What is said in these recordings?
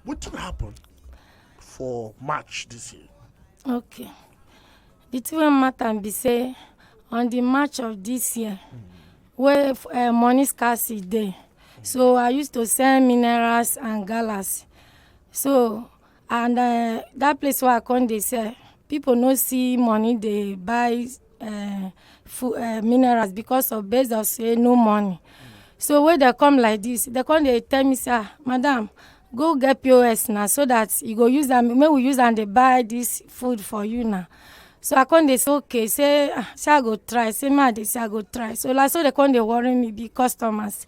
wetin happen for march this year. okay the thing wey matter be say on the march of this year mm. wey uh, money scarcity dey so i used to sell minerals and galas so and uh, that place where i come dey sell people no see money dey buy uh, food, uh, minerals because of based of say no money so when they come like this they come they tell me sir ah, madam go get pos now so that you go use them. May we use and they buy this food for you now so i come they say okay say ah, say i go try say ma dey say i go try so like so they come they worry me be customers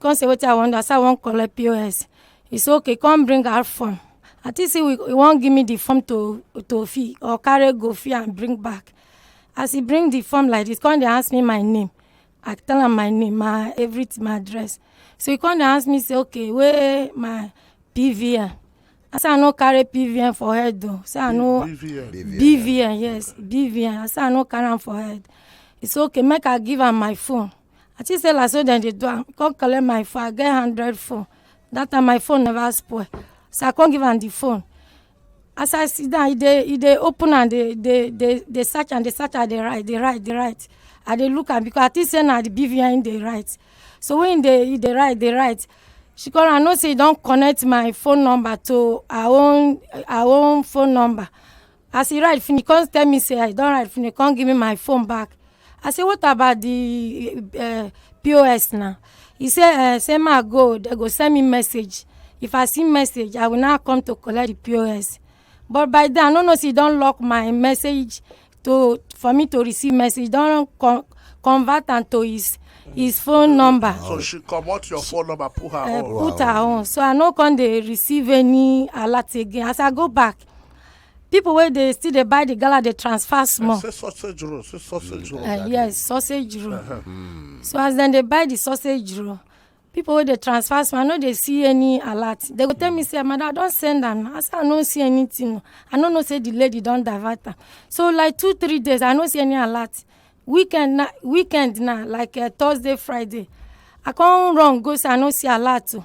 come say wetin i wan do i say i wan collect pos he say okay come bring out form i think say we he wan give me the form to to fill or carry go fill and bring back as he bring the form like this come dey ask me my name i tell am my name my everything my address so he come dey ask me say okay wey my pvn i say i no carry pvn for head o say i no bvn bvn yes bvn i say i no carry am for head he say okay make i give am my phone I think say like so dem dey do am. Come collect my phone. I get hundred phone. That time my phone never spoil. So I come give am the phone. As I sit down, e dey e dey open and dey dey dey dey search and dey search and dey write, dey write, dey write. I dey look am because I think say na the BVN im dey write. So when e dey e dey write, dey write, she come I know say e don connect my phone number to her own her own phone number. As he ride finish, come tell me say I don ride finish, come give me my phone back. I say what about the uh, POS now? He say uh, say ma go, they go send me message. If I see message, I will now come to collect the POS. But by then, I don't know if he don lock my message to for me to receive message. Don con convert am to his his phone number. So she comot your phone number, put her Uh, own. put her own. So I no come dey receive any alert again. As I go back, people wey dey still dey buy the gala dey transfer small say sausage roll say sausage roll uh, yes sausage roll uh -huh. mm. so as dem dey buy the sausage roll people wey dey transfer small i no dey see any alert they go tell me say madam i don send am i say i no see anything i no know say the lady don divert am so like two three days i no see any alert weekend na weekend na like uh, thursday friday i come run go say i no see alert o. Oh.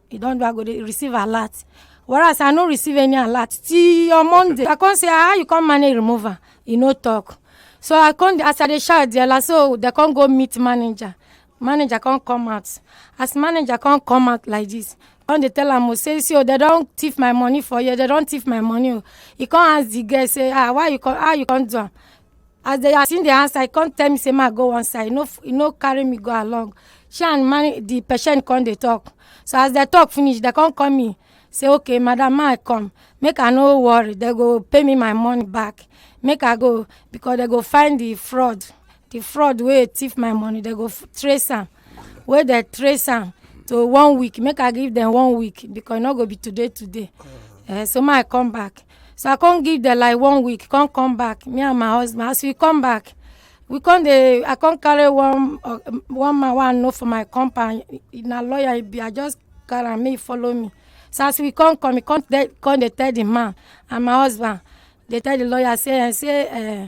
e don do i go dey receive alert whereas i no receive any alert till on monday i come say ah, how you come manage remove am e no talk so i come dey- as i dey shout there like so dem come go meet manager manager come come out as manager come come out like this come dey tell am o say see o dem don thief my money for here dem don thief my money o he come ask the girl say ah why you come how you come do am as they as him dey answer he come tell me say ma go one side he no f- he no carry me go along she and man the patient come dey talk so as they talk finish they come call me say okay madam ma i come make i no worry they go pay me my money back make i go because they go find the fraud the fraud wey thief my money they go f- trace am wey they trace am to one week make i give them one week because e no go be today today uh, so ma i come back So I come give them like one week, come come back. Me and my husband, as we come back, we come dey I come carry one uh, one man wey I know for my compound. He na lawyer he be. I just carry am, make he follow me. So as we come come, he come dey come dey tell the man and my husband. Dey tell the lawyer say eh, say eh,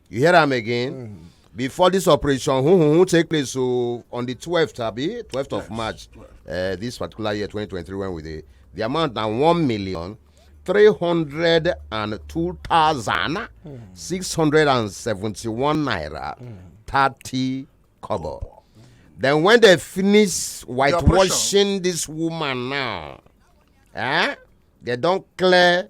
you hear am again mm. before this operation who who who take place so on the twelfth, abi twelfth of march uh, this particular year twenty twenty three when we dey the amount na one million three hundred and two thousand hmm. six hundred and seventy one naira hmm. thirty kobo then when they finish whitewashing this woman now eh they don clear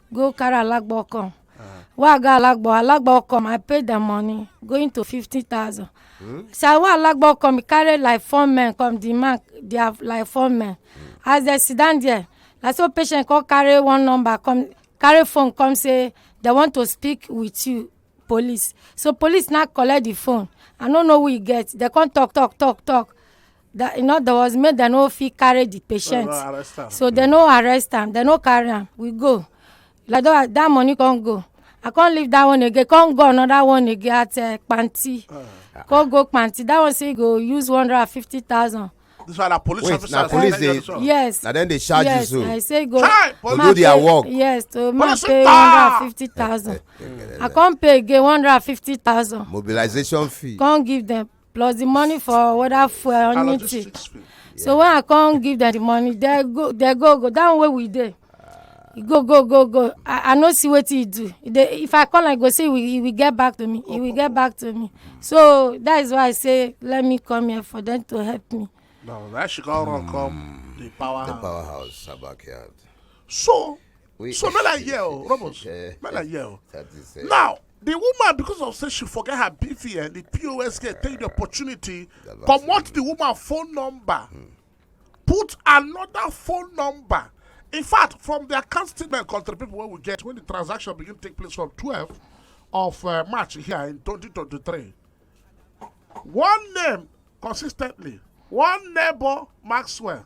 go carry alagbo come wey i go alagbo alagbo come i pay dem money going to fifty thousand so i wey alagbo come e carry like four men come the man their like four men as dem sit down there na so patient come carry one number come carry phone come say dem want to speak with you police so police now collect the phone i no know who e get dem come talk talk talk talk that in other words make dem no fit carry the patient Well, arrest am. so dem no arrest am dem no carry am we go like that that money come go i come leave that one again come go another one again at uh, panti Ah. come go panti that one say he go use one hundred and fifty thousand This one na police Wait, officer. na police dey- Yes. yes Na dem dey charge you yes so. i say go Chai, police- man Do their pay- work. yes to man Police pay one officer! hundred and fifty thousand i come pay again one hundred and fifty thousand mobilization fee. come give them plus the money for whether fuel or Allow this anything street sweep. so when i come give them the money they go they go go that one wey we dey e go go go go i i no see wetin e do e dey if i call am e go say e will e will get back to me e will get back to me so that is why i say let me come here for them to help me Now that she come run come the power. The house. powerhouse, her backyard. So We, so make like yeah, oh, Robos. Make like yeah. Oh. Now the woman because of say she forget her bvn eh, the pos get take the opportunity comot the woman phone number hmm. put another phone number in fact from the account statement country people wey we get when the transaction begin take place from twelve of uh, march here in twenty twenty three one name consistently one neighbor maxwell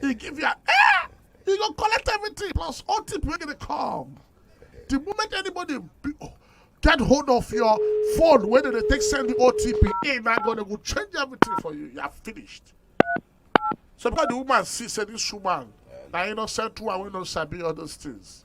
He give you eh! He go collect everything plus all tip wey dey come. The moment anybody be, oh, get hold of your phone wey dey take send the OTP, he na go dey go change everything for you. You are finished. So because the woman see say this woman na innocent woman wey no sabi all those things.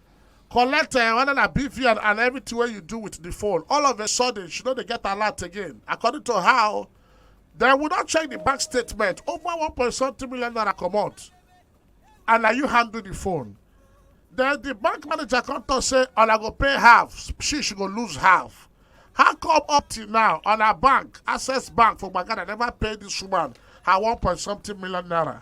collect uh, whether na BVN and everything wey you do with the phone. All of a sudden, she no dey get alert again. According to how, they would not check the bank statement. Over one point something million naira comot, and na you handle the phone. Then the bank manager come talk say, "Una go pay half. She she go lose half." How come up till now on her bank, Access Bank for Bagana never pay this woman her one point something million naira?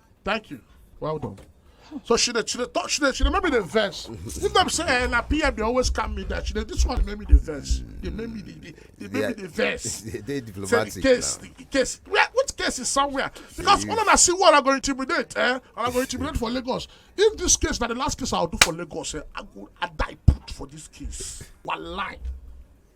Thank you. Well done. So she dey she dey talk she dey she dey make me dey vex. If dem say eh, na PM dey always calm me down, she dey this one dey make me dey vex. Dey make me dey dey dey make me dey vex. They, they Say the diplomatic case, now. the case, where, which case is somewhere? Because all of us see what I go intimidate, eh? And I go intimidate for Lagos. If this case, now the last case I'll do for Lagos, eh? I go, I die put for this case. Wallahi.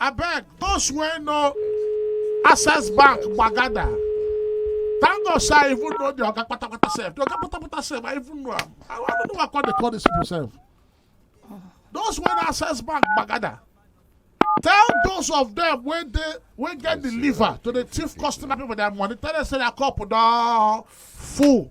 abeg those wey know access bank gbagada thank god say i even know the oga patapata sef the oga patapata sef i even know am i wan know why i come dey call these people sef those wey know access bank gbagada tell those of them wey dey wey get the liver to dey thief customer people their money tell them say their cup don full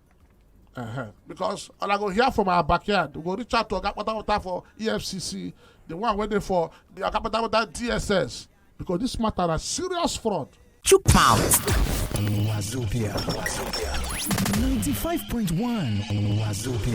Uh-huh. because and i go hear from our backyard we go reach out to oga patapata for efcc the one wey dey for the oga patapata dss because this matter na serious fraud. chook mouth. wazobia wazobia ninety-five point one wazobia.